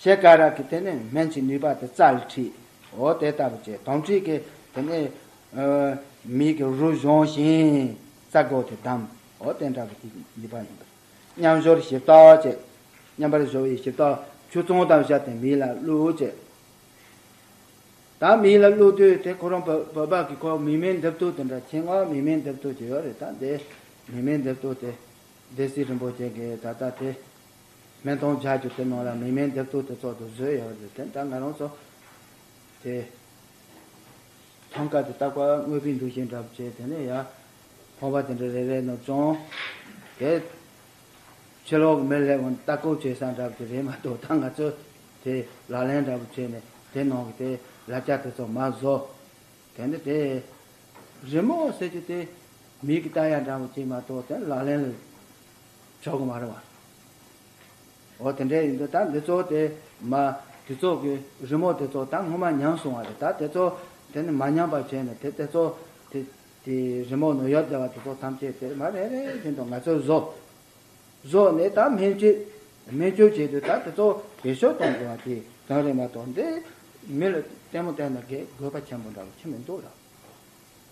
ཞེས་སྐ་རགས་ཀྱིས་དེ་ནི་སྨན་གྱི་ནུས་པ་དེ་རྩ་ལ་འཁྲིའོ་དེ་ལྟ་བུ་ཅན་དོམ་མཁྲིས་ཀྱི་དེ་ནི་མིག་གི་རུ་གཞོང་ཞིང་རྩ་སྒོ་དེ་བསྡམ་འོ་དེ་འདྲ་བུ་དེའི་ནུས་པ་ཡིན་པས་མཉམ་གཞོར་ཞིབ་བཏགས་ཅེས་མཉམ་པར་གཞོར་བའི་ཞིབ་བཏགས་ཆུ་བཙོང་དང་བཞག་སྟེ་མིག་ལ་བླུག་ཅེས་ད་མིག་ལ་བླུག་དུས་དེ་ཁོ་རང་བོད་པ་གི་ཁོ་མིག་མེད་འདེབས་ཐུག་དེ་འདྲ་ཆེད་མངགས་མིག་མེད་འདེབས་ཐུག་ཅིག་ཡོད་རེད་ད་དེ་མིག་མེད་འདེབས་ཐུག་དེ་སྡེ་སྲིད་རིན་པོ་ཆེ་གིས་ད་ལྟ་དེ་སྨན་སྟོང་བརྒྱ་བཅུ་དེ་ནང་ལ་མི་སྨན་རྡེབ་གཏུག་དེ་ཚོགས་འདུ་བཟོས་ཡོད་རེད་དེ་འདྲ་ང་རང་ཚོ་དེ་ཐང་ཀ་དེ་བཏགས་པ་དངོས་པོའི་འདུག་ཅེས་འདྲ་བྱས་དེ་ནས་ཡ་ཕོངས་པ་དེ་འདྲ་རེ་རེ་ནོར་བྱུང་དེ་ཕྱི་ལོག་མི་ལེགས་བོན་ལྟ་སྐོར་བྱེད་ས་འདྲ་བོ་དེ་རེད་མ་གཏོགས་ད་ང་ཚོས་དེ་ལག་ལེན་འདྲ་བོ་བྱས་ནས་དེ་ནང་གི་དེ་ལ་རྒྱ་དེ་ཚོ་མ་བཟོ་དེ་ནས་དེ་རི་མོ་ཟེར་རྒྱུ་དེ་མིག་གི་བལྟ་ཡ་འདྲ་བོ་བྱས་མ་གཏོགས་དེ་ལག་ལེན་ལ། ཆོག་གི་མ་རེད་བ། འོ་དེ་འདྲས་ཡིན་དུས་ད་འདི་ཚོ་དེ་མ་དེ་ཚོ་གི་རི་མོ་དེ་ཚོ་ད་སྔོན་མ་ཉམས་སོང་བ་རེད་ད་དེ་ཚོ་དེ་ནི་མ་ཉམས་པ་བྱས་ནས་དེ་དེ་ཚོ་དེ་དེ་རི་མོ་ནོར་ཡོད་བསྡད་བ་དེ་ཚོ་ཐམས་ཅད་དེ་མ་རེ་རེ་བཞིན་དུ་ང་ཚོས་བཟོ། བཟོས་ནས་ད་སྨན་བཅོས་སྨན་བཅོས་བྱས་དུས་ད་དེ་ཚོ་བེད་སྤྱོད་གཏོང་དགོས་བ་དེ་གང་རེད་མ་གཏོགས་འདི་མི་ལ་ལྟད་མོ་བལྟས་ན་དགོས་པ་ཆེན་པོ་འདྲ་བོ་ཆེ་མི་འདུག་ལ།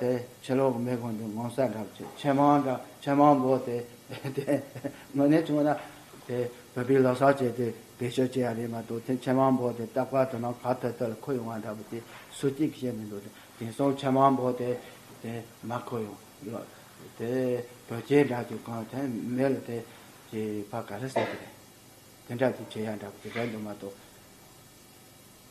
དེ་ཕྱི་ལོག་གི་མེ་གོང་དུ་ངོ་མཚར་འདྲ་བོ་བྱེད་ཆེན་མང་འདྲ་ཆེན་མང་བོ་དེ་དངོས་གནས་བྱུང་ན་དེ་བོད་པའི་ལོ་སར་བྱས་ཏེ་འབེལ་ཤོག་བྱས་ཡ་རེད་མ་གཏོགས་དེ་ཆེན་མང་བོ་དེ་ལྟག་པར་དོ་སྣང་ག་ཐོད་ཐོད་ལ་འཁོད་ཡོང་བ་འདྲ་བོ་དེ་སུ་གཅིག་གིས་བཤད་མི་འདུག་དེ་དེང་སང་ཆེན་མང་བོ་དེ་དེ་མ་འཁོད་ཡོང་ལོ་དེ་བོད་སྐྱེས་འདྲ་གཅིག་གང་ཐད་མེད་ལ་དེ་ཀྱི་བར་ག་རེ་བསད་ཀྱི་རེད་དེ་འདྲ་གཅིག་བྱས་ཡ་འདྲ་བོ་དེ་རེད་འདུག་མ་གཏོགས།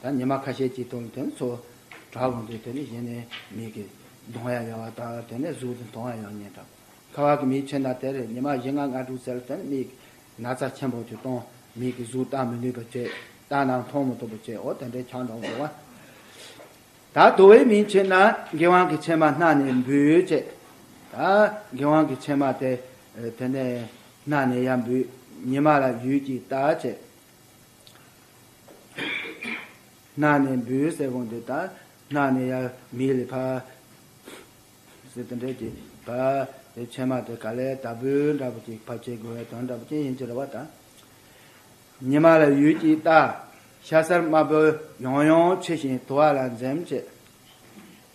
ད་ཉི་མ་ཁ་ཤས་ཀྱིས་དོར་དོན་ཚོ། བྲག་ལུང་དུ་དེ་ནི་ཡེ་ནས་མིག་གིས། མདོང་ཡང་ཡང་བ་དང་དེ་ནས་གཟུགས་དེ་མཐོང་བ་ཡང་ཉེ་འདྲ། ཁ་བ་གི་མིག་ཆེན་དང་དེར་ཉི་མ་བཞི་ལྔ་ལྔ་དྲུག་ཚལ་དེར་མིག། ན་ཚ་ཆེན་པོ་དེ་སྟོང་མིག་གིས་གཟུགས་བརྟག་མི་ནུས་པར་བྱེད། བརྟག་ནའང་མཐོང་མི་ཐུབ་པར་བྱེད་འོ་དེ་འདྲའི་ཆང་དང་བུ་བ། ད་དོ་བའི་མིག་ཆེ་ན་དགེ་བང་གི་ཕྱེ་མ་སྣ་ནས་འབུས་བྱེད། ད་དགེ་བང་གི་ཕྱེ་མ་དེ་དེ་ནས་སྣ་ནས་ཡང་འབུས། ཉི་མ་ལ་ཡུད་ཀྱིས་བརྟག་བྱེད། ནགས་ནས་འབུས་ཡོད་སའི་དགོན་སྡེ་དང། ནགས་ནས་ཡར་མིག་ལས་ཕར། ཟེར་དེ་འདྲའི་གྱི། བར། དེ་ཕྱེད་མ་དེ་ག་ལས་དར་འབུའི་འདྲ་པོ་ཅིག་ཕར་ཆེར་རྒོལ་བའི་དོན་འདྲ་པོ་ཅན་ཡིན་ཅེས་རེ་བ་དང། ཉི་མ་ལ་ཡུད་ཀྱིས་བལྟ། ཤ་གསར་དམར་པོ་ཡང་ཡང་ཕྱེ་ཞིང་དུ་བ་ལ་འཛེམ་བྱེད།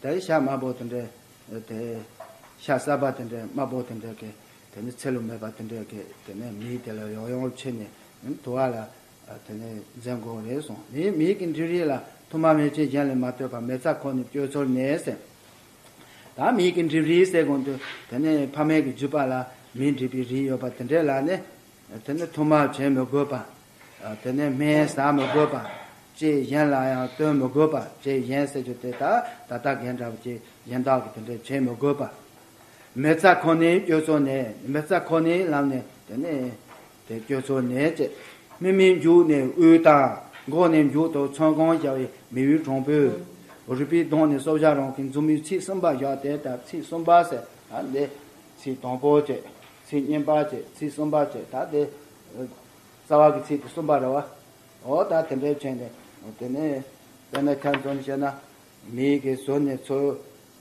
དེར་ཤ་དམར་པོ་དེ་འདྲའི། དེ། ཤ་གསར་པ་དེ་འདྲའི་དམར་པོ་དེ་འདྲའི་གི། དེ་ནི་ཚེ་ལོ་མེད་པ་དེ་འདྲས་ཀྱིས་དེ་ནས་མིའི་དེ་ལ་ཡོག་ཡོག་ཕྱེ་ནས་དུ་བ་ལ་དེ་ནས་འཛེམ་དགོས་རེད་སོང་ནས་མིའི་གི་འདྲུ་རིགས་ལ་དུ་མ་མེ་ལྕེ་གཞན་ལས་མ་ལྟོས་པར་མེ་བཙའ་ཁོ་ནས་བཅོས་ཚོར་ནས་ཟེར། ད་མིའི་གི་འདྲུ་རིགས་ཟེར་གོང་དུ་དེ་ནས་ཕ་མེས་ཀྱི་རྒྱུད་པ་ལ་མིའི་འདྲུ་པའི་རིགས་ཡོད་པ་དེ་འདྲས་ལ་ནི་དེ་ནས་དུ་མ་བྱེད་མི་དགོས་པ། དེ་ནས་སྨན་ཟ་མི་དགོས་པ། ལྕེ་གཞན་ལ་ཡང་ལྟོས་མི་དགོས་པ་ལྕེ་གཞན་ཟེར་རྒྱུ་དེ་དག་ད་ལྟ་རྒན་འདྲ་བ་ལྕེ་གཞན་དག་གི་དེ་འདྲས་བྱེད་མི་དགོས་པ། མེ་བཙའ་ཁོ་ནའི་སྐྱོ་ཚོར་ནས། མེ་བཙའ་ཁོ་ནའི་ལམ་ནས་དེ་ནས། དེ་སྐྱོ་ཚོར་ནས་ཅེས། མི་མི་མཇུག་ནས་དབུལ། དང་འགོག་ནས་མཇུག་ཏུ་ཚོན་གང་བཞག་བའི་མི་ཡུལ་གྲོང་པོའི། རུས་པའི་གདོང་ནས་སོ་བཞག་རང་གི་མཛུབ་མོའི་ཚིགས་གསུམ་པ་བཞག་དེ་ལྟར་ཚིགས་གསུམ་པ་ཟེར་ད་དེ། ཚིགས་དང་པོ་ཅེས། ཚིགས་གཉིས་པ་ཅེས་ཚིགས་གསུམ་པ་ཅེས་ད་དེ། རྩ་བ་གི་ཚིགས་དེ་གསུམ་པ་རེད་བ། འོ་ད་དེ་འདྲའི་ཕྱིར་ནས། དེ་ནས། དཔེར་ན་ཁྱབ་ཚོར་ནི་བཤད་ན། མིག་གིས་ཟུར་ནས་ཚོར།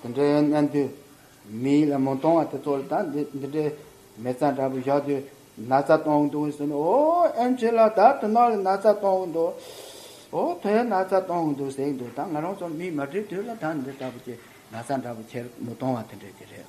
འདི་འདྲའི་གནད་འདུས་མིའི་ལ་མོ་གཏོང་བ་དེ་ཚོ་ལ་ད་འདི་འདྲའི་མེ་བཙའ་འདྲ་པོ་བཞག་དུས་ན་ཚ་གཏོང་གི་འདུག་ཟེར་ནས་ཨོ་ཨེམ་ཇི་ལགས་ད་དོ་ནག་ལ་ན་ཚ་གཏོང་གི་འདུག་ཨོ་དོན་ན་ཚ་གཏོང་གི་འདུག་ཟེར་གི་འདུག་ད་ང་རང་ཚོ་མིས་མ་བྲིས་དུས་ལ་ད་འདི་ལྟ་བུ་ཀྱི་ན་ཚ་འདྲ་པོ་ཁྱེར་མི་གཏོང་བ་དེ་འདྲ་གྱི་རེད།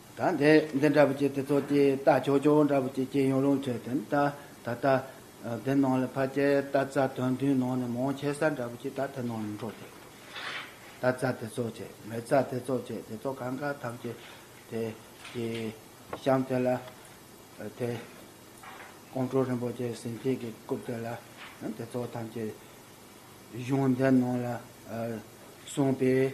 དང་དེ་འདི་འདྲ་བུ་ཅིག་དེ་ཚོ་དེའི་རྟ་ཆོག་ཆོག་འདྲ་བུ་ཅིག་སྐྱེས་ཡོང་རུང་ཁྱོད་དེ་ད་ད་ད་དེ་ནང་ལ་ཕ་ཅེ་རྟ་རྩ་དོན་བདུན་ནང་ནས་མང་ཆེ་ས་འདྲ་བུ་ཅིག་ད་དེ་ནང་ལ་འགྲོ་དེ་རྟ་རྩ་དེ་ཚོ་ཆེ་མེ་རྩ་དེ་ཚོ་ཆེ་དེ་ཚོ་གང་ག་ཐམས་ཅད་དེ་དེ་གཤམ་དེ་ལ་དེ་ཀོང་སྤྲུལ་རིན་པོ་ཆེ་ཟིན་བྲིས་ཀྱི་རྐུབ་དེ་ལ་དེ་ཚོ་ཐམས་ཅད་གཞུང་འདི་ནང་ལ་གསུངས་པའི།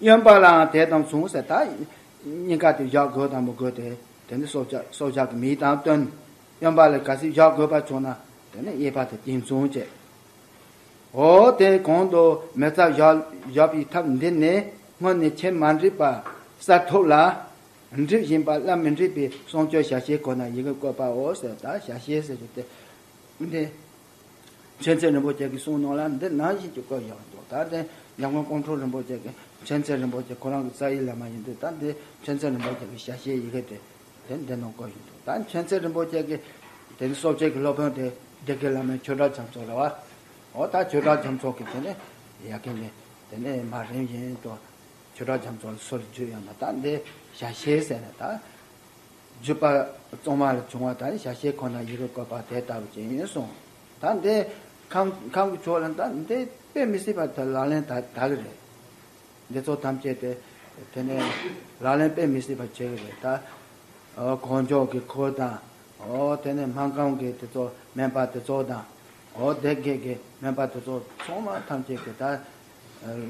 གཡོན་པ་ལའང་དེ་དང་མཚུངས་སེ་ད། སྙིང་ག་དེ་བཞག་དགོས་དང་མི་དགོས་དེ། དེ་ནི་སྲོག་ཆགས་སྲོག་ཆགས་ཀྱི་མིའི་དང་སྟོན། གཡོན་པ་ལས་ག་སྲིད་བཞག་དགོས་པ་བྱུང་ན། དེ་ནི་གཡས་པ་དང་དེ་མཚུངས་བྱས། ཧོ། དེ་གོང་དུ་མེ་བཙའ་བཞག་པའི་ཐབས་འདི་ནི། སྔོན་ནས་ཁྱེད་མ་འདྲིས་པ་གསར་ཐོབ་ལ། འདྲིས་བཞིན་པ་སླར་མི་འདྲིས་པའི་གསུང་ཆོས་ཞལ་ཤེས་ཁོ་ན་ཡི་གེ་བཀོད་པའོ་ཟེར་ད་ཞལ་ཤེས་ཟེར་བ་དེ། མཁྱེན་བརྩེ་རིན་པོ་ཆེ་གི་གསུང་ནང་ལ་འདི་ནང་བཞིན་གྱི་བཀོད་ཡོད་འདུག་ད་ལྟའི་ཉམས་མགོན་ཀོང་སྤྲུལ་རིན་པོ་ཆེ་གི་མཁྱེན་བརྩེ་རིན་པོ་ཆེ་ཁོ་རང་གི་རྩ་ཡི་ལས་མ་ཡིན་དུས་ད་འདི་མཁྱེན་བརྩེ་རིན་པོ་ཆེ་གི་ཞལ་ཤེས་ཡི་གེ་དེ་དེ་འདི་ནང་བཀོད་ཡོད་འདུག་ད་མཁྱེན་བརྩེ་རིན་པོ་ཆེ་གི་དེ་ནི་གསོ་དཔྱད་ཀྱི་སློབ་དཔོན་དེ་སྡེ་དགེ་བླ་མའི་ཆོས་གྲགས་འཇམ་ཚོགས་རེད་བ། འོ་ད་ཆོས་གྲགས་འཇམ་ཚོགས་ཀྱི་དེ་ནི་ཡ་གི་ནི་དེ་ནི་མ་རིན་བཞིན་དུ་ཆོས་གྲགས་འཇམ་ཚོགས་ལ་སོ་ལ་བརྗོད་ཡོད་ན་ད་འདི་ཞལ་ཤེས་ཟེར་ནས་ད། བརྗོད་པ། གཙང་མ་ལ་བྱུང་བ་དང་ཞལ་ཤེས་ཁོ་ན་ཡིད་རུ་བཀོད་པ་དེ་ལྟ་བུ་ཅན་ཡིན་གསུང། ད་འདི། ཁམས་ཀྱི་ཕྱོགས་ལ་ད་འདི་དཔེ་མི་སྲིད་པ་དེ་ལག་ལེན་དག་གི་རེད། འདི་ཚོ་ཐམས་ཅད་དེ། དེ་ནས། ལག་ལེན་དཔེ་མི་སྲིད་པ་བྱེད་གི་རེད། ད། གང་ཕྱོགས་ཀྱི་འཁོར་དང། དེ་ནས་སྨན་ཁང་གི་དེ་ཚོ་སྨན་པ་དེ་ཚོ་དང། སྡེ་དགེ་གི་སྨན་པ་དེ་ཚོ་ཚང་མ་ཐམས་ཅད་ཀྱི་ད།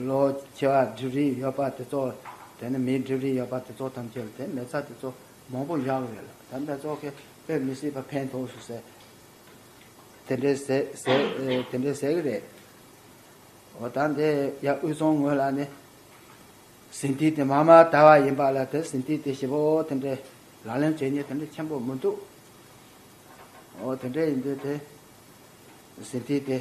ལོ་བྱེ་བ་སྒྲིབ་རིགས་ཡོད་པ་དེ་ཚོ། དེ་ནི་མིའི་སྒྲིབ་རིགས་ཡོད་པ་དེ་ཚོ་ཐམས་ཅད་ལ་དེ་མེད་ཚ་དེ་ཚོ་མང་པོ་བཞག་ཡོད་ལ་ད་ལྟ་ཚོ་ཁེ་ཕེབས་མི་སྲིད་པ་ཕན་ཐོགས་སུ་ཟད། དེ་འདྲའི་ཟད་དེ་འདྲའི་ཟད་གི་རེད། འོ་ད་འདི་ཡ་དབུས་གཙང་ངོས་ལ་ནི། ཟིན་བྲིས་དེ་མ་མ་དར་བ་ཡིན་པ་ལ་དེ་ཟིན་བྲིས་དེ་ཞེ་པོ་དེ་འདྲའི་ལག་ལེན་བྱེད་ཉེས་དེ་འདྲའི་ཆེན་པོ་མི་འདུག། འོ་དེ་འདྲའི་ཡིན་དུས་དེ་ཟིན་བྲིས་དེ།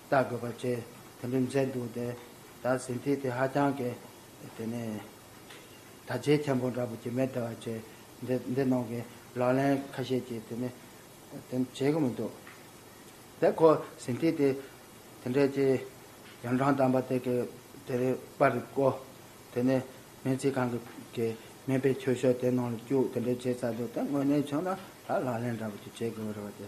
ལྟ་དགོས་པ་བཅས་དེ་འདྲའི་མཛེས་འདུག་དེ་ལྟར་ཟིན་བྲིས་དེ་ཧ་ཅང་གི་དེ་ནས་དྲ་རྒྱའི་མཁན་པོ་འདྲ་པོ་ཀྱི་མེ་དྲ་བ་བཅས་འདི་འདི་ནང་གི་ལག་ལེན་ཁ་ཤས་ཀྱིས་དེ་ནི་དེ་བྱེད་གི་མི་འདུག་དེ་ཁོ་ཟིན་བྲིས་དེ་དེ་འདྲའི་ཀྱི་ཡང་གྲངས་དམ་པ་དེ་གི་དེ་རི་པར་བརྐོ་དེ་ནི་སྨན་རྩིས་ཁང་གི་གི་སྨན་པའི་ཁྱོ་ཤོག་དེ་ནང་ལ་བཅུག་དེ་འདྲའི་བྱེད་ཚར་འདུག་དེ་དངོས་གནས་བྱུང་ན་ད་ལག་ལེན་འདྲ་པོ་ཀྱི་བྱེད་དགོས་པ་རེད་བ་དེ་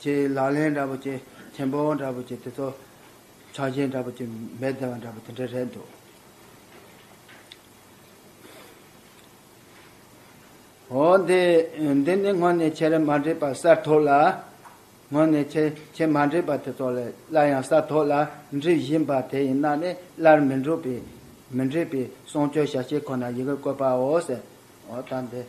ཅེས་ལག་ལེན་འདྲ་པོ་ཅེས་བྲན་པོ་འདྲ་པོ་ཅེས་དེ་ཚོ་ཆགས་རྗེས་འདྲ་པོ་ཅེས་འབད་བརྩོན་བ་འདྲ་པོ་དེ་འདྲ་རེད་འདུག་འོ་འདི་འདི་ནི་དངོས་གནས་ཁྱེད་རེད་མ་འདྲེས་པ་གསར་ཐོག་ལ་དངོས་གནས་ཁྱེད་ཁྱེད་མ་འདྲེས་པ་དེ་ཚོ་ལས་སླར་ཡང་གསར་ཐོག་ལ་འདྲི་བཞིན་པ་དེ་ཡིན་ན་ནི་སླར་མི་འགྲུབ་པའི་མི་འདྲེས་པའི་གསུང་ཆོས་ཞལ་ཕྱེ་ཁོ་ན་ཡི་གེར་བཀོད་པའོ་ཟེར་འོ་ད་འདི་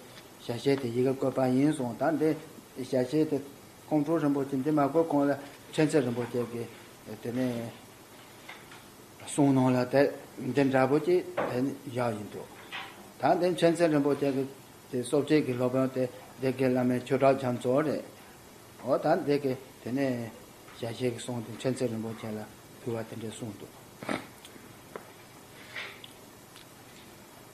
ཞལ་ཤེས་དེ་ཡི་གེ་བཀོད་པ་ཡིན་གསུང་དང་འདི་ཞལ་ཤེས་དེ་ཀོང་སྤྲུལ་རིན་པོ་ཆེ་འདི་མ་བཀོད་གོང་ལ་ཕྲན་ཚེགས་རིན་པོ་ཆེ་གི་དེ་ནས་གསུང་གནང་ལ་དེ་འདི་འདྲ་པོ་ཅིག་དེ་ནི་བཞག་ཡིན་འདུག་ད་འདི་ཕྲན་ཚེགས་རིན་པོ་ཆེ་གི་དེ་སོབ་ཆེན་གི་སློབ་དཔོན་དེ་འདི་གི་བླ་མའི་ཆོས་གྲགས་རྒྱ་མཚོ་རེད་འོ་ད་འདི་གི་དེ་ནས་ཞལ་ཤེས་གི་གསུང་དེ་ཕྲན་ཚེགས་རིན་པོ་ཆེ་ལ་ཕུལ་བ་དེ་འདྲས་གསུང་འདུག།